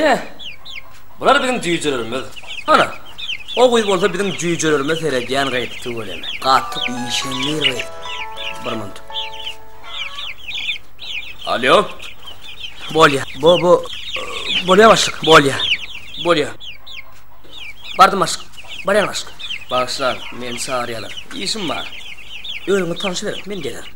Ýe, bular biziň jüýjelerimiz. Hana, o gyz bolsa biziň jüýjelerimize seredýän gyz, tüweleme. Gaty işeňňir gyz. Bir munt. Alýo. Bolýa. Bu, bu, bolýa başlyk, bolýa. Bolýa. Bardym başlyk, barýan başlyk. Bagyşlaň, meni çagyrýarlar. Işim bar. Özüňizi tanyşyberiň, men geler.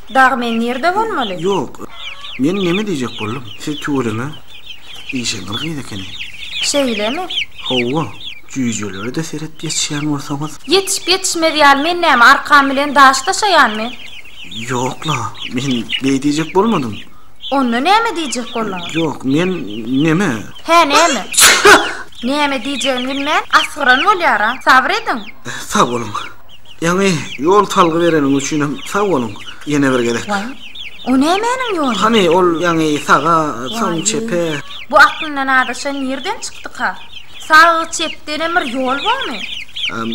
Dagy men nirde bolmaly? Ýok. Men neme diýjek boldum, siz tüweleme işeňňir gyz ekeni. Şeýlemi? Hawa. Jüýjelere-de seret ýetişýän bolsaňyz. Ýetişip-ýetişmez ýaly men näme arkam bilen daş daşaýanmy? Ýok-la, men beý diýjek bolmadym. Onda näme diýjek bolduňyz? Ýok, men neme? Hä, näme? Näme diýjegini bilmän asgyran bolýar-a. Sabyr ediň. Sag boluň. Ýaňy ýol salgy bereniň üçin hem sag boluň. Ýene bir gezek. Waý, o nämäniň ýoly? Hany, ol ýaňy saga, soň çepe. Bu aklyndan azaşan nirden çykdyka? Sag-çepden hem bir ýol bormy?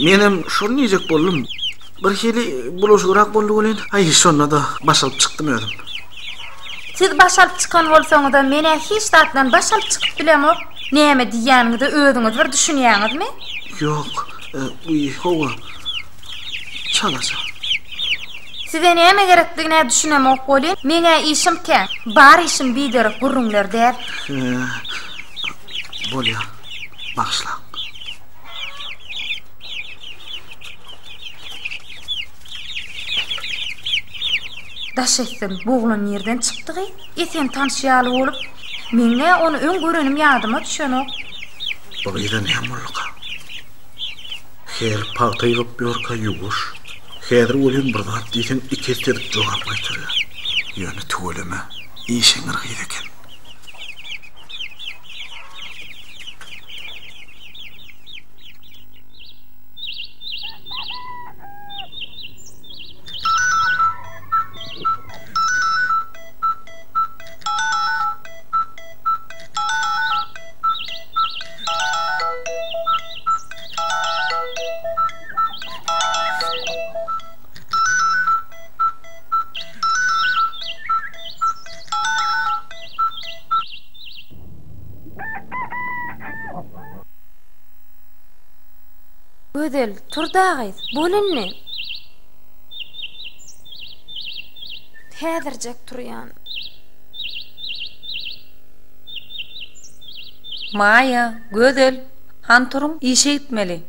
Menem şony diýjek boldum. Birhili bulaşygrak boldy welin, aý, şonda-da baş alyp çykdym özüm. Siz baş alyp çykan bolsaňyz-a, men-ä hiç zatdan baş alyp çykyp bilemok. Näme diýýäniňize özüňiz bir düşünýäňizmi? Ýok. Guýy hawa. Çalaja. Size näme gerekdigine düşünemok welin, meň-ä işim kän. Bar işim biderek gürrüňler däl. Bolýar. Bagyşlaň. Daş etsin, bu oglan nirden çykdy-gy? Esen tanyş ýaly bolup, meň-ä ony öň görenim ýadyma düşenok. Bu gyza näme bolduka? Her pagta ýygyp ýörkä ýuwaş, häzir welin bir zat diýseň iki esse edip jogap gaýtarýar. Ýöne tüweleme, işeňňir gyz eken. Gözel, tur dagyz, bol indi! Häzirjek turýan. Maýa, Gözel, han turuň, işe gitmeli.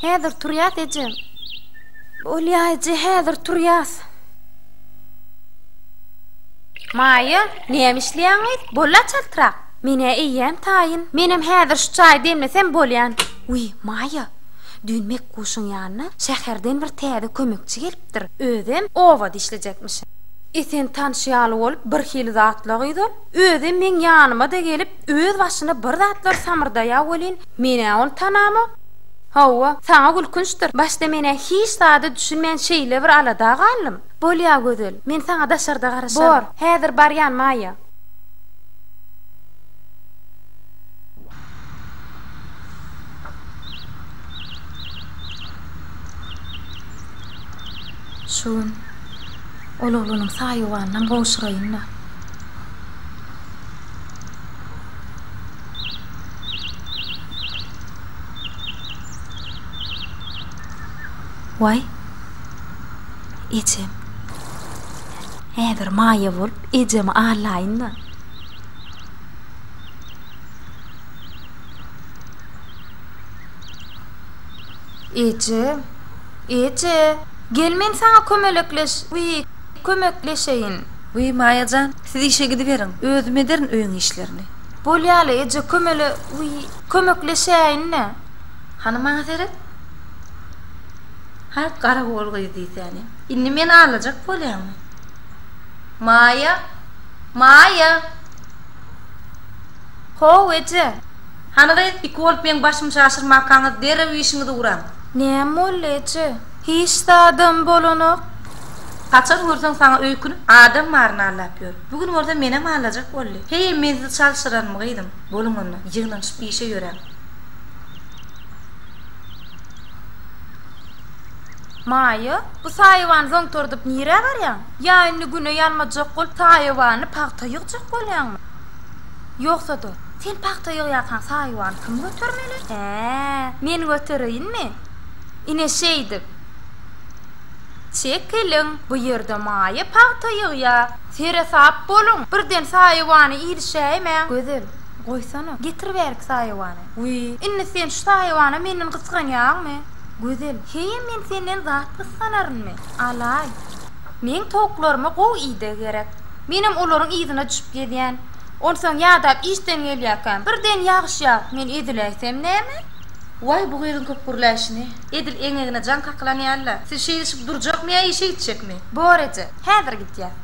Häzir turýas, eje. Bolýa, eje, häzir turýas. Maýa, näme işleýäňiz? Bol-a çaltrak. Men-ä eýýäm taýyn. Menem häzir şu çaýy demlesem bolýan. Wiý, Maýa. Düýn Mekguşyň ýanyna şäherden bir täze kömekçi gelipdir, özem oba dişlejekmiş. Esen tanşy ýaly bolup birhili zatla gyza, özem meň ýanyma-da gelip, öz başyna bir zatlar samyrdaýa welin, men-ä ony tanamok. Hawa, saňa gülkünçdir, başda men-ä hiç zada düşünmän şeýle bir alada galdym. Bolýa, Gözel, men saňa daşarda garaşaryn. Bor, häzir barýan, Maýýa. Şu gün ol oglunyň saýawanynam gowşuraýyn-da. Waý, ejem. Häzir maýa bolup ejemi allaýyn-da. Eje! Eje! Gel men saňa kömelekleş wi kömekleşeýin. Wi Maýa jan, siz işe gidiberiň, özüm ederin öýüň işlerini. Bolýaly eje kömele wi kömekleşäýin-le. Hany maňa seret. Haý garagol gyz diýsäni. Indi meni alajak bolýaňmy? Maýa! Maýa! How, eje! Hany gyz, iki bolup meň başymy şaşyrmakaňyz, derrew işiňizi uraň! Näme boldy, eje? Hiç zadam bolanok. Haçan görseň saňa öýkünip, adam baryny allap ýör. Bu gün bolsa menem allajak boldy. Heý, men sizi çalşyranmy, gyzym? Boluň onda, ýygnanyşyp işe ýöräň! Maýa, bu saýawany zoňtordyp nirä barýaň? Ýa indi güne ýalmajak bolup saýawany pagta ýygjak bolýaňmy? Ýogsa-da, sen pagta ýygýarkaň saýawany kim götermeli? Hä, men götereýinmi? Ine şeýdip. Çekiliň, bu ýerde Maýa pagta ýygýar. Seresap boluň, birden saýawany ilişäýmäň. Gözel, goýsana, getir bärik saýawany. Wiý, indi sen şu saýawana menden gysganýaňmy? Gözel, heý men senden zat gysganarynmy? Alaý. Meň towuklaryma gowy ideg gerek. Menem olaryň yzyna düşüp gezýän. Onsoň ýadap işden gelýärkäm, birden ýagyş ýagyp, men eziläýsem näme? Waý, bu gyzyň köp gürläýşini. Edil eňegine jaň kakylan ýaly-la. Siz şeýdişip durjakmy ýa işe gitjekmi? Bor eje, häzir gidýär.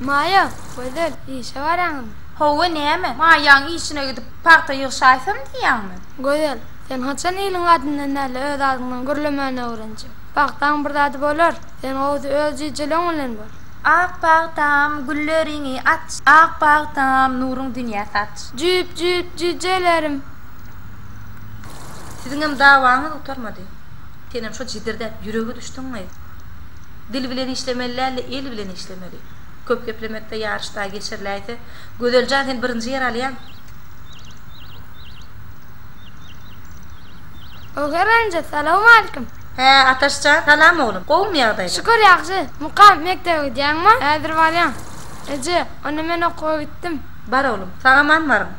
Maýa, Gözel, işe barýaňyzmy? Hawa, näme, Maýaň işine gidip, pagta ýygşaýsam diýýäňmi? Gözel, sen haçan iliň adyndan däl-de öz adyňdan gürlemäni öwrenjek? Pagtaň bir zady bolar, sen gowusy öz jijeleň bilen bol. Ak pagtam, gülleriňi aç. Ak pagtam, nuruň dünýä saç. Jüp, jüp, jijelerim. Siziňem dawaňyz gutarmady. Senem şo jidirdäp ýürege düşdüňmi? Dil bilen işlemeli däl-de, el bilen işlemeli. Köp geplemekde ýaryş daýy geçiriläýse. Gözeljan sen birinji ýer alýaň. Oger anja salowmalikim. Hä Ataşjan salam oglum gowumy ýagdaýlar. Şükür ýagşy Mukam mekdebe gidýäňmi häzir barýan Eje onda men okuwa gitdim. Bar oglum sag aman baryň.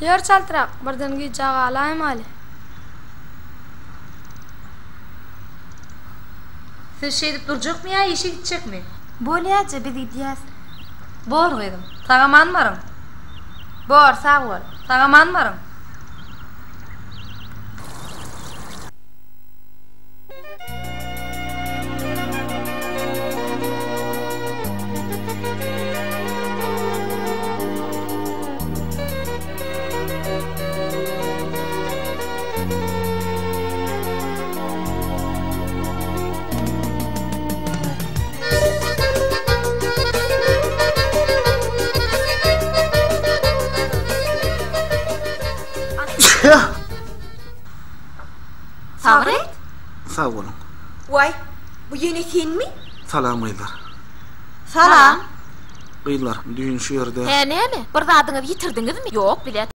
Ýör çaltrak birden gijä galaýmaly. Siz şeýdip durjakmy ýa işe gitjekmi. Bolýaje, biz gidýäs. Bor, gyzym. Sag-aman baryň. Bor, sag bol. Sag-aman baryň. Sabret! Sag boluň. Waý, bu ýene senmi? Salam gyzlar. Salam. Gyzlar, düýn şu ýerde. Hä, näme? Bir zadyňyzy ýitirdiňizmi? Ýok, bilet.